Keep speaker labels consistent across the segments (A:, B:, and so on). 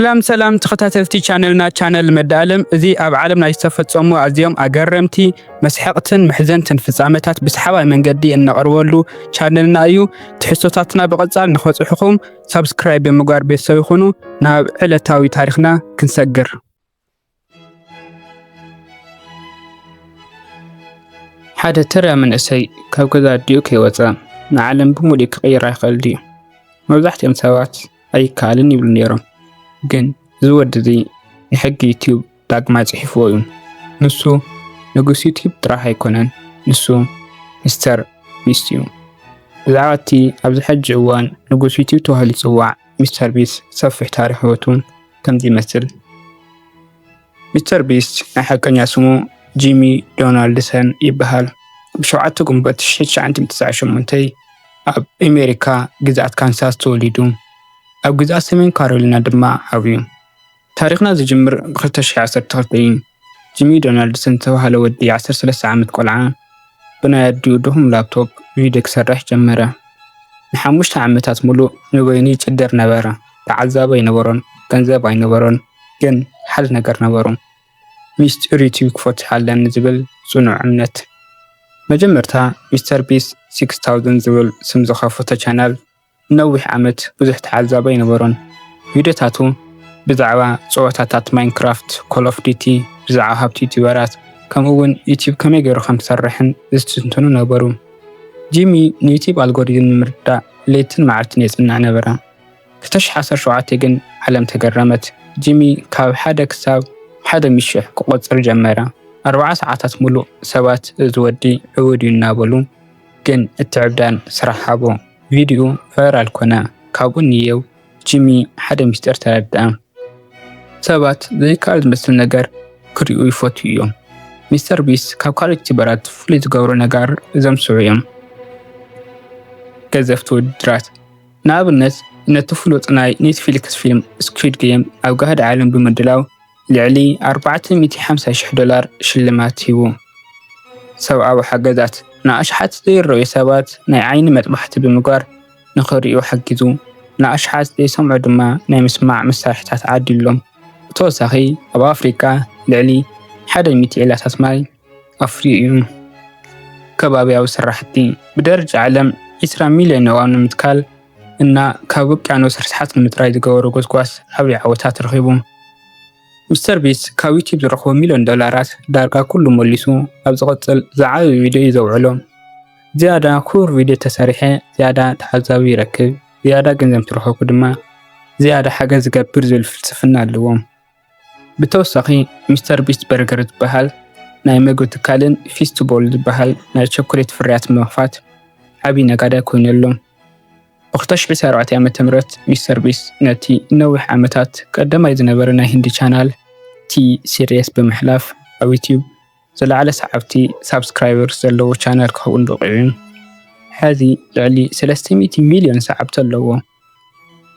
A: ሰላም ሰላም ተኸታተልቲ ቻነልና ቻነል መዳኣለም እዚ ኣብ ዓለም ናይ ዝተፈጸሙ ኣዝዮም ኣገረምቲ መስሐቕትን መሕዘንትን ፍጻመታት ብሰሓባይ መንገዲ እነቕርበሉ ቻነልና እዩ። ትሕዝቶታትና ብቐጻል ንኸጽሑኹም ሳብስክራይብ ብምግባር ቤተሰብ ይኹኑ። ናብ ዕለታዊ ታሪኽና ክንሰግር ሓደ ተራ መንእሰይ ካብ ገዛ ኣዲኡ ከይወፀ ንዓለም ብምሉእ ክቕይራ ይኽእል ድዩ? መብዛሕትኦም ሰባት ኣይከኣልን ይብሉ ነይሮም። ግን እዚ ወዲ እዚ ንሕጊ ዩትዩብ ዳግማይ ጽሒፍዎ እዩ። ንሱ ንጉስ ዩትዩብ ጥራሕ ኣይኮነን፣ ንሱ ሚስተር ቢስት እዩ። ብዛዕባ እቲ ኣብዚ ሕጂ እዋን ንጉስ ዩትዩብ ተባሂሉ ዝጽዋዕ ሚስተር ቢስት ሰፊሕ ታሪኽ ህይወቱ ከምዚ ይመስል። ሚስተር ቢስት ናይ ሓቀኛ ስሙ ጂሚ ዶናልድሰን ይበሃል። ብሸውዓተ ግንቦት 1998 ኣብ ኣሜሪካ ግዝኣት ካንሳስ ተወሊዱ ኣብ ግዝኣት ሰሜን ካሮሊና ድማ ዓብዩ። ታሪኽና ዝጅምር ብ ክልተ ሽሕ ዓሰርተ ክልተ እዩ ጂሚ ዶናልድሰን ዝተባህለ ወዲ ዓሰርተ ሰለስተ ዓመት ቆልዓ ብናይ ኣዲኡ ድኹም ላፕቶፕ ቪድዮ ክሰርሕ ጀመረ። ንሓሙሽተ ዓመታት ሙሉእ ንበይኑ ይጭደር ነበረ ተዓዛቢ ኣይነበሮን ገንዘብ ኣይነበሮን ግን ሓደ ነገር ነበሩ ሚስጢር ዩቲዩብ ክፈትሕ ኣለኒ ዝብል ጽኑዕ እምነት። መጀመርታ ሚስተር ቢስት ሲክስ ታውዘንድ ዝብል ስም ዝኸፈቶ ቻናል ንነዊሕ ዓመት ብዙሕ ተዓዛባይ ኣይነበሮን። ቪድዮታቱ ብዛዕባ ጸወታታት ማይንክራፍት፣ ኮል ኦፍ ዲቲ፣ ብዛዕባ ሃብቲ ዩቱበራት፣ ከምኡ'ውን ዩቱብ ከመይ ገይሩ ከም ዝሰርሕን ዝትንትኑ ነበሩ። ጂሚ ንዩቱብ ኣልጎሪዝም ንምርዳእ ለይትን መዓልትን የጽንዕ ነበረ። ክልተ ሽሕ ዓሰርተ ሸውዓተ ግን ዓለም ተገረመት። ጂሚ ካብ ሓደ ክሳብ ሓደ ሚእቲ ሽሕ ክቖጽር ጀመረ። ኣርብዓ ሰዓታት ምሉእ ሰባት እዚ ወዲ ዕቡድ እዩ እናበሉ ግን እቲ ዕብዳን ስራሕ ሃቦ። ቪድዩ ቫይራል ኮነ። ካብኡ ንየው ጂሚ ሓደ ምስጢር ተረድኣ። ሰባት ዘይከኣል ዝመስል ነገር ክርእዩ ይፈትዉ እዮም። ሚስተር ቢስት ካብ ካልኦት ዩቲዩበራት ፍሉይ ዝገብሮ ነገር እዞም ዝስዕቡ እዮም። ገዘፍቲ ውድድራት፣ ንኣብነት ነቲ ፍሉጥ ናይ ኔትፍሊክስ ፊልም ስኲድ ጌም ኣብ ጋህዲ ዓለም ብምድላው፣ ልዕሊ ኣርባዕተ ሚእቲ ሓምሳ ሽሕ ዶላር ሽልማት ሂቡ። ሰብኣዊ ሓገዛት ንኣሽሓት ዘይረኣዩ ሰባት ናይ ዓይኒ መጥባሕቲ ብምግባር ንኽርእዩ ሓጊዙ፣ ንኣሽሓት ዘይሰምዑ ድማ ናይ ምስማዕ መሳርሒታት ዓዲሉሎም። ብተወሳኺ ኣብ ኣፍሪቃ ልዕሊ ሓደ ሚእቲ ዒላታት ማይ፣ ኣፍርዩ እዩ። ከባብያዊ ስራሕቲ፣ ብደረጃ ዓለም ዕስራ ሚልዮን ኣእዋም ንምትካል እና ካብ ውቅያኖስ ርስሓት ንምፅራይ ዝገበሮ ጎስጓስ ዓብይ ዓወት ኣትረኺቡ። ሚስተር ቢስት ካብ ዩቲዩብ ዝረኽቦ ሚልዮን ዶላራት ዳርጋ ኩሉ መሊሱ ኣብ ዝቕፅል ዝዓበየ ቪድዮ እዩ ዘውዕሎ። ዝያዳ ክቡር ቪድዮ ተሰሪሐ ዝያዳ ተዓዛቢ ይረክብ፣ ዝያዳ ገንዘብ እንትረኸብኩ ድማ ዝያዳ ሓገዝ ዝገብር ዝብል ፍልስፍና ኣለዎም። ብተወሳኺ ሚስተር ቢስት በርገር ዝበሃል ናይ መግቢ ትካልን ፊስት ቦል ዝበሃል ናይ ቸኮሌት ፍርያት ብምኽፋት ዓብዪ ነጋዳይ ኮይኑ ኣሎ። ብ2024 ዓ.ም ሚስተር ቢስት ነቲ ንነዊሕ ዓመታት ቀዳማይ ዝነበረ ናይ ህንዲ ቻናል ቲ-ሲሪስ ብምሕላፍ ኣብ ዩትዩብ ዝለዓለ ሰዓብቲ፣ Subscribers፣ ዘለዎ ቻነል ክኸውን በቒዑ ሐዚ ልዕሊ ሰለስተ ሚእቲ ሚልዮን ሰዓብቲ ኣለዎ።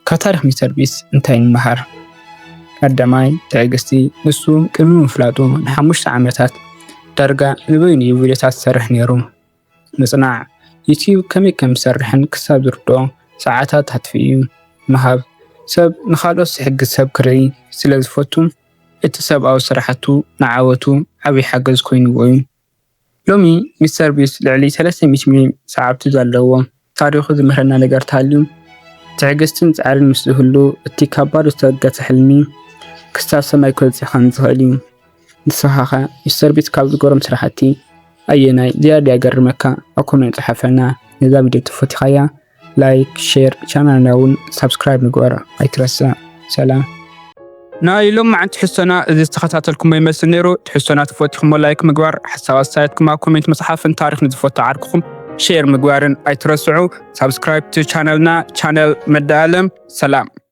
A: ካብ ታሪኽ ሚስተር ቢስት እንታይ ንመሃር? ቀዳማይ፣ ትዕግስቲ፣ ንሱ ቅድሚ ምፍላጡ ንሓሙሽተ ዓመታት ዳርጋ ንበይኑ እዩ ቪድዮታት ዝሰርሕ ነይሩ። ምጽናዕ፣ ዩትዩብ ከመይ ከም ዝሰርሕን ክሳብ ዝርድኦ ሰዓታት ኣጥፊኡ ምሃብ፣ ሰብ ንኻልኦት ዝሕግዝ ሰብ ክርኢ ስለ ዝፈቱ እቲ ሰብኣዊ ስራሕቱ ንዓወቱ ዓቢ ሓገዝ ኮይንዎ'ዩ። ሎሚ ሚስተር ቢስት ልዕሊ ሰለስተ ሚእቲ ሚልዮን ሰዓብቲ ኣለዎ። ታሪኹ ዝምህረና ነገር ተሃልዩ፣ ትዕግስትን ጻዕርን ምስ ዝህሉ፣ እቲ ካብ ባዶ ዝተበገሰ ሕልሚ ክሳብ ሰማይ ክበጽሕ ከም ዝኽእል እዩ። ንስኻኸ ሚስተርቢስት ካብ ዝገሮም ስራሕቲ ኣየናይ ዝያዳ የገርመካ? ኣብ ኮሜንት ጽሓፈልና። ነዛ ቪድዮ ተፈቲኻያ ላይክ፣ ሼር፣ ቻናልና እውን ሳብስክራይብ ምግባር ኣይትረስዕ። ሰላም! ናይ ሎማዓንቲ ሕሶና እዚ ዝተከታተልኩሞ ይመስል ነይሩ ትሕሶና ተፈቲኩሞ ላይክ ምግባር ሓሳብ ኣስተያየትኩም ኣብ ኮሜንት ምፅሓፍን ታሪክ ንዝፈቱ ዓርክኩም ሼር ምግባርን ኣይትረስዑ ሳብስክራይብ ቻነልና ቻነል መዳ ኣለም ሰላም።